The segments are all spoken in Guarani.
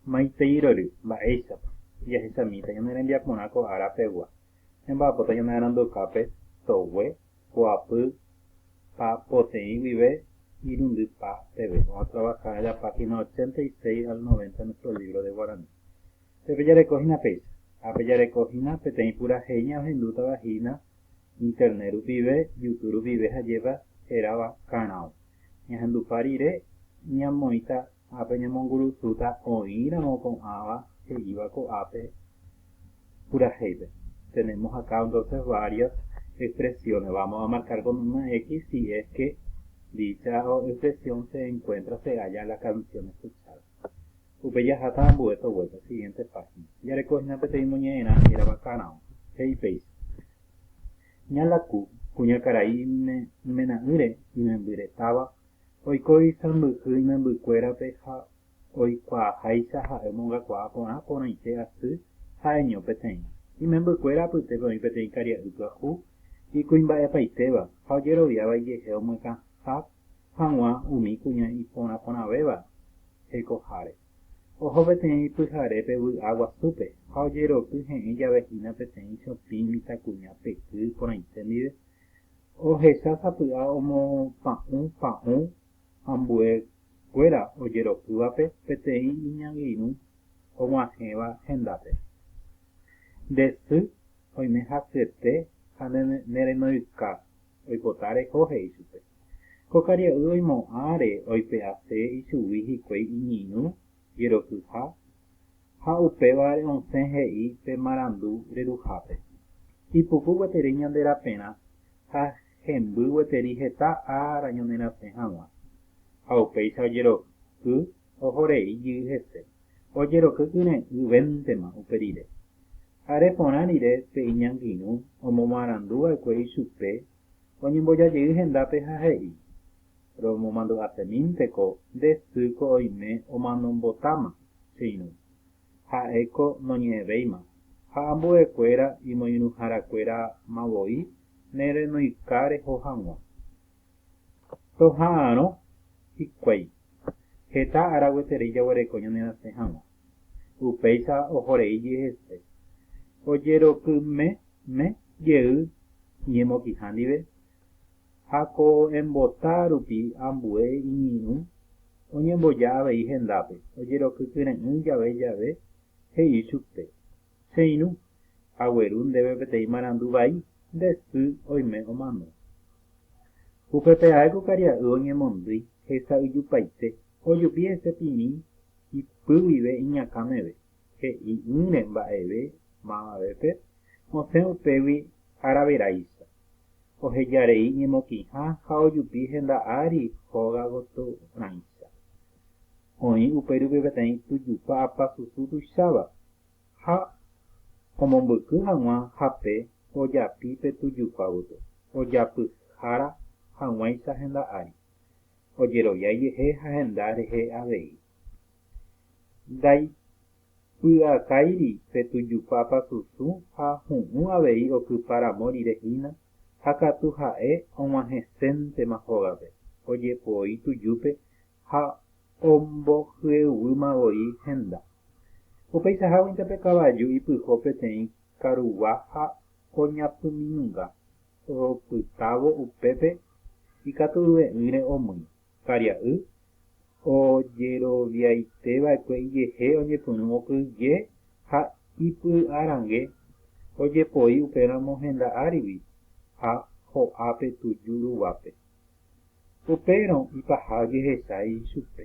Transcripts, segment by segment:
Maitei rory, mba'éichapa. Jahesamíta ñane rembiaporã ko ára pegua. Ñamba'apóta ñanearandukápe togue, poapy pa poteĩ guive irundy pa peve. Vamos a trabajar en la página 86 al 90 en nuestro libro de guaraní. Pe pejareko hína péicha. Ha pejareko hína peteĩ purahéi ñaohendútava hína Internet rupive, Youtube rupive ha jépa, hérava Karão. Ñahendupa rire, ñamoĩta Ha peñemongurusúta oĩramo ko'ãva he'íva ko'ápe purahéipe. Tenemos acá entonces varias expresiones. Vamos a marcar con una X si es que dicha expresión se encuentra, se halla en la canción escuchada. Upe jaháta ambue so vuelta, siguiente página. Jareko hína peteĩ moñe'ẽrã hérava karão. He'i péicha, Ña laku, kuñakarai imena'ỹre imembyretáva Oiko isãmbyhy imembykuérape ha oikuaaháicha ha'e omongakuaa porã porãite asy ha eño peteĩ. Imembykuéra apytépe oĩ peteĩ karia'y pyahu, ikuimba'epaitéva ha ojeroviáva ijehe omyakãha hag̃ua umi kuña iporãporãvéva hekoháre. Oho peteĩ pyharépe vy'a guasúpe ha ojeroky he'ẽ jave hína peteĩ chopĩ mitãkuña peky porãite ndive, Ohecha sapy'a omopa'ũ pa'ũ ambue kuéra ojeropývape peteĩ iñangirũ oguahẽva hendápe. Nde sy oime hasyete ha ne renoyka oipota reho he'i chupe. Ko karia'y oimo'ãre oipe'ase ichugui hikuái iñirũ jerokyha ha upévare osẽ he'i pe marandu reruhápe, Ipuku gueteri ñande raperã ha hemby gueteri heta ára ñanerasẽ hag̃ua. Ha upéicha ojeroky ohorei jey hese, ojeroky kyre'ỹ véntema upe rire. Are porã rire pe iñangirũ omomarandu va'ekue ichupe oñembojajey hendápe ha he'i, Romomandu'asemínteko nde sy ko oime omanombotáma che irũ, ha'e ko noñe'ẽvéima, ha ambue kuéra imoirũhára kuéra ma voi ne renoika reho hag̃ua. Toha'arõ hikuái, heta ára gueterei jaguereko ñanerasẽ hag̃ua. Upéicha ohorei jehese, ojerokymeme jey iñemokĩha ndive, ha ko embota rupi ambue iñirũ oñemboja avei hendápe, ojerokykyre'ỹ jave jave, he'i chupe, Che irũ, agueru ndéve peteĩ marandu vai, nde sy oime omano. Upépe ae ko karia'y oñemondýi hesa yjupaite, ojupi hese pimi ipy guive iñakã meve, he'i'ỹre mba'eve mavavépe osẽ upégui araveráicha, oheja rei ñemokĩha ha ojupi henda ári hóga goty rãicha. Oĩ upérupi peteĩ tujupa apa susu tuicháva, ha omombyky hag̃ua hape ojapi pe tujupa gotyo, ojapyhára hag̃uáicha henda ári. ojeroviáijehe ha henda rehe avei. Ndaipy'akáiri pe tujupápa susũ ha hu'ũ avei okypa ramo rire hína ha katu ha'e og̃uahẽséntema hógape, ojepoi tujúpe ha ombohyeguýma voi henda. Upeichaháguinte pe kavaju ipyho peteĩ karugua ha oñapyminunga. Oropytávo upépe ikaturuve'ỹre omýi, karia'y, ojeroviaiteva'ekue ijehe oñepyrũvo kyje ha ipy'arange ojepoi upéramo henda árigui ha ho'ápe tuju ruguápe. Upérõ ipaha ojehecha ichupe.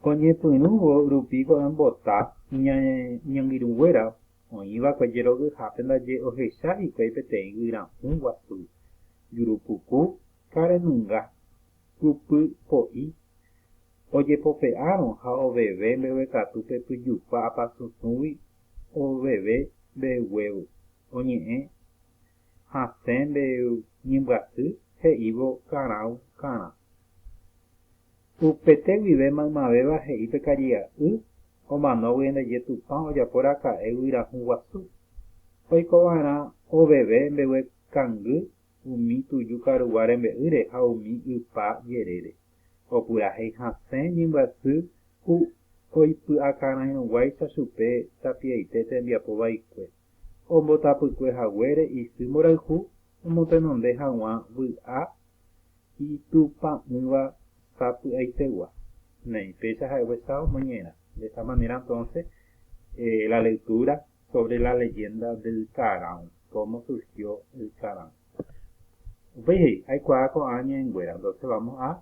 Oñepyrũvo rupi ko'ã mbota iñangirũnguéra Oĩ va'ekue jerovihápe ndaje ohecha hikuái peteĩ guyrahu guasu, jurupuku ha renunga, kupy po'i. Ojepope'árõ ha oveve mbeguekatu pe pyjupa apasũsũgui oveve mbeguévo, oñe'ẽ hasẽ mbe ñembyasy he'ívo karãu karã. Upete guive maymavéva he'i pe karia'y omanógui ndaje Tupã ojapo raka'e guyrahu guasu, oiko va'erã oveve mbeguekangy umi tuju karugua rembe'ýre ha umi ypa jerére, opurahéi hasẽ ñembyasy ku oipy'akarãirõguáicha chupe tapiaite tembiapo vaikue. ombotapykue haguére isy mborayhu omotenonde hag̃ua vy'a itupã'ỹva sapy'aitegua. Neĩ, péicha ha'eguesa omoñe'ẽrã. De esta manera entonces la lectura sobre la leyenda del Carão, cómo surgió el Carão. Upéi he'i, Aikuaa ko'ã ñe'ẽnguéra, entonces vamos a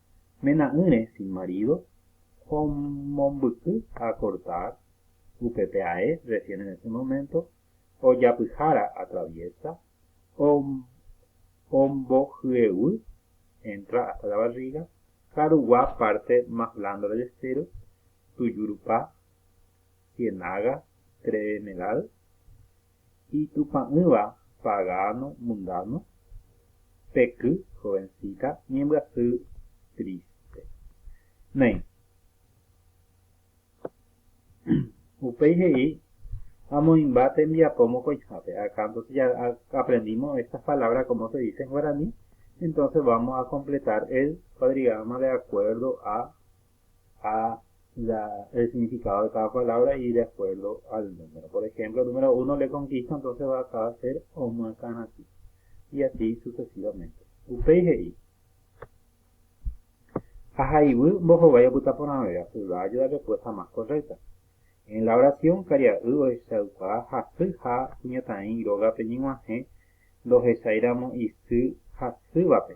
mena'ỹre sin marido ha omombyky a cortar upépe ae recién en ese momento ojapyhára atraviesa ombohyevy entra hasta la barriga karugua parte más blando del estero tuju rupa cienaga tremedal Itupã'ỹva, pagano, mundano, peky, jovencita, ñembyasy, triste. Néi. Upéi he'i, Amoĩmba tembiapo mokõihápe, akã, entonces ya aprendimos estas palabras cómo se dice en guaraní, entonces vamos a completar el cuadrigrama de acuerdo a ha la el significado de cada palabra y de acuerdo al número. Por ejemplo, el número uno le conquista, entonces va acá a ser omyakãrasy. Y así sucesivamente. Upéi he'i. Ahayhu mbohovái opyta porã véva, se va a ayudar después a más correcta. En la oración karia'y ohechauka hasy ha kuñataĩ rógape ñeg̃uahẽ ndohechairamo isy hasývape.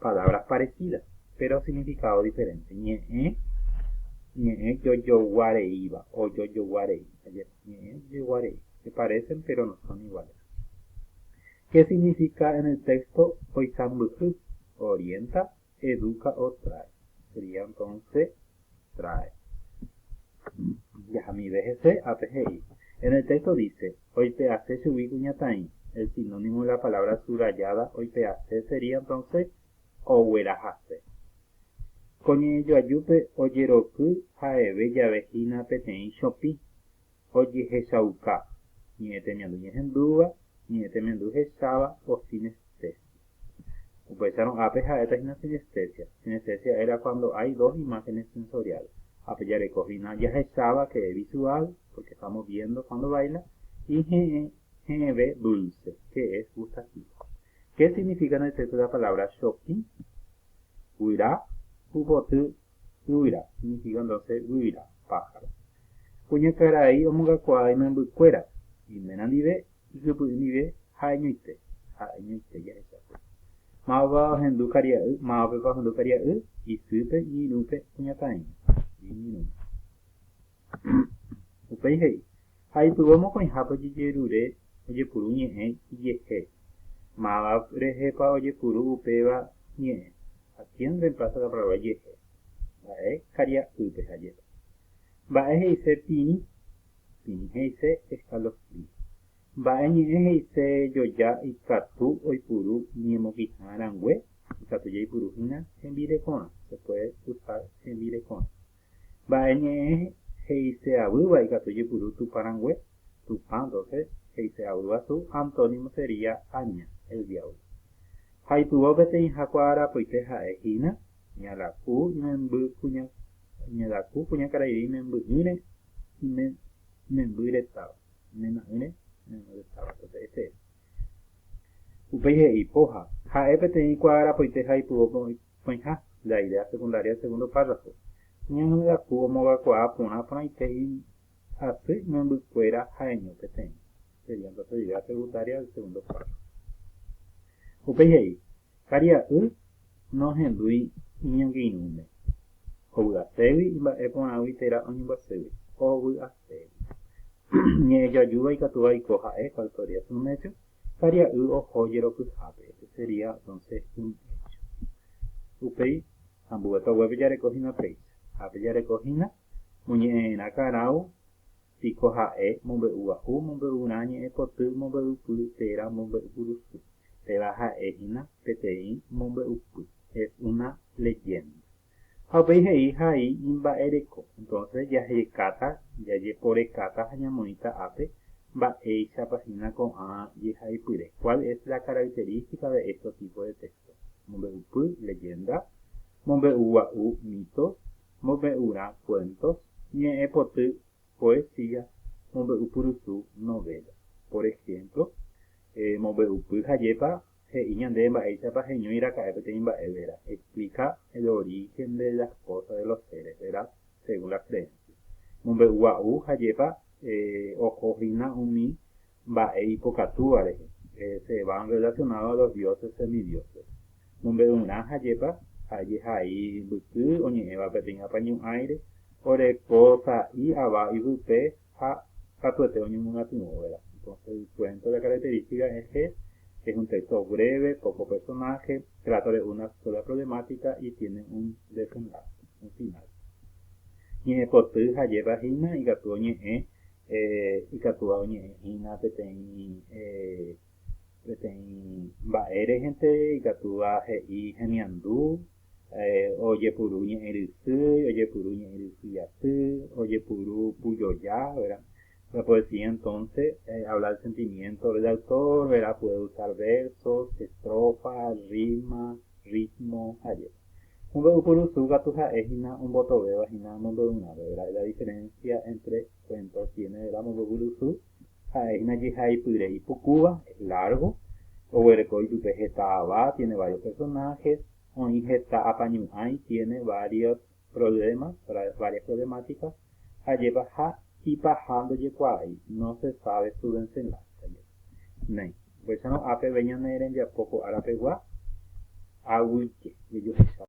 Palabras parecidas, péro signifikado diferente. Ñe'ẽ, ñe'ẽ jojogua reíva, ojojogua rei. Ajépa, ñe'ẽ ojojogua rei. Se parecen, péro no son iguales. Qué signifika en el texto oikambyhy? Orienta, educa o trae. Sería entonce. Trae. Jahamive hese, ápe he'i. En el texto dice, oipe'ase chugui kuñataĩ, el sinónimo de la palabra subrayada oipe'ase sería entonces oguerahase. Ko ñe'ẽjoajúpe ojeroky ha'eve jave hína peteĩ chopĩ, ojehechauka ñe'ẽ temiandu ñehendúva, ñe'ẽ temiandu hecháva o sinestesia. Upéicharõ ápe ha'éta hína sinestesia. Sinestesia era cuando hay dos imágenes sensoriales. Ápe jareko hína jahecháva que es visual, porque estamos viendo cuando baila, y he'ẽ, he'ẽve dulce, que es gustativo. Qué significa en el texto de la palabra shopping? Guyra, Pupoty Yvyra, significándose yvyra, pájaro. Kuñakarai omongakuaa imembykuéra, iména ndive, ikypy'y ndive, ha'eñoite, ha'eñoite jahechápe. Mávapa ohendu karia'y, mávapepa ohendu karia'y, isýpe, iñirũpe, kuñakairũ, iñirũ. Upéi he'i, Ha ipyvo mokõihápe ojejerure ojepuru ñe'ẽ ijehe. Máva rehepa ojepuru upéva ñe'ẽ? Ha kien remplaza la palabra ijehe? Mba'e karia'ýpe ha jepe. Mba'e he'ise pirĩ? Pirĩ he'ise escalofrío. Mba'e ñe'ẽ he'ise joja ikatu oipuru iñemokiha rangue? Ikatu jaipuru hína hembirekorã. Se puede usar hembirekorã. Mba'e ñe'ẽ he'ise'avýva ikatu ojepuru Tupã rangue? Tupã, doce, he'ise'avýva su antónimo sería aña, el diablo. Ha ipyvo peteĩha kuaarapoite ha'e hína, Ñalaku imemby kuña, Ñalaku kuñakaraire imemby'ỹre ime, imemby retáva, imena'ỹre imemby retáva, entonces ese es. Upéi he'i, Póha. Ha'e peteĩ kuaarapoite ha ipyvo Oĩha, nde aire asekundaria segundo párrafo, ñanungaku omogakuaa porã porãite y asy imembykuéra ha'eño peteĩ, sería entonces aire asekundaria del segundo párrafo. Upéi he'i, Karia'y nohendúi iñangirũme, hovy'aségui imba'e porãgui térã oñembyaségui. Hovy'aségui. Ñe'ẽjajúva ikatúva oiko ha'e, cual podría ser un hecho? Karia'y oho jerokyhápe, este sería entonces un hecho. Upéi ambuépa guépe jareko hína péicha. Ha pe jareko hína, moñe'ẽ'erã karão piko ha'e mombe'ugua'u, mombe'urã ñe'ẽpoty, mombe'upy térã, mombe'upurusy. Péva ha'e hína peteĩ mombe'upy. Es una leyenda. Ha upéi he'i Ha'i imba'ereko. Entonces jahekáta, jajeporekáta ha ñamoĩta ápe mba'éichapa hína ko'ã jehaipyre, cuál es la característica de estos tipos de textos, mombe'upy, leyenda, mombe'ugua'u, mitos, mombe'urã, cuentos, ñe'ẽpoty, poesía, mombe'upurusu, novelas. Por ejemplo, eh, mombe'upy, jajépa he'i ñandéve mba'éichapa heñói raka'e peteĩ mba'e, verá, explica el origen de las cosas de los seres, verá, según la creencia. Mombe'ugua'u jajepa oho hína umi mba'e ipokatúva rehe, se van relacionado a los dioses semidioses. Mombe'urã jajepa ha jehai mbyky oñe'ẽva peteĩ apañu'ãire, oreko sa'i ava yvype ha katuete oñomyatyrõva'erã. Entonces cuento la característica es que es un texto breve, poco personaje, trata de una sola problemática y tiene un desenlace, un final. Ñe'ẽpoty ha jépra hína ikatu oñe'ẽ eh, ikatúva oñe'ẽ hína peteĩ eh, peteĩ mba'e rehẽnte, ikatúva he'i hemiandu, ojepuru ñe'ẽ rysy, ojepuru ñe'ẽ rysy aty, ojepuru pujoja, verda. La poesía entonce habla del sentimiento del autor, verda, puede usar versos, estrofas, rima, ritmo, jare. Mombe'u purusu katu ha'e hína ombotovéva hína mombe'urãpe, verda, es la diferencia entre cuentos tiene, verda, mombe'u purusu. Ha'e hína jehaipyre ipukúva, es largo, oguereko ipype heta ava, tiene varios personajes, oĩ heta apañu'ãi, tiene varios problemas, varias problemáticas, ajépa ha ipaha ndojekuaái, no se sabe su desenlace, ajépa. Néi, upéicharõ ápe ve ñane rembiapo ko ára pegua, aguyje, jejuhecháva.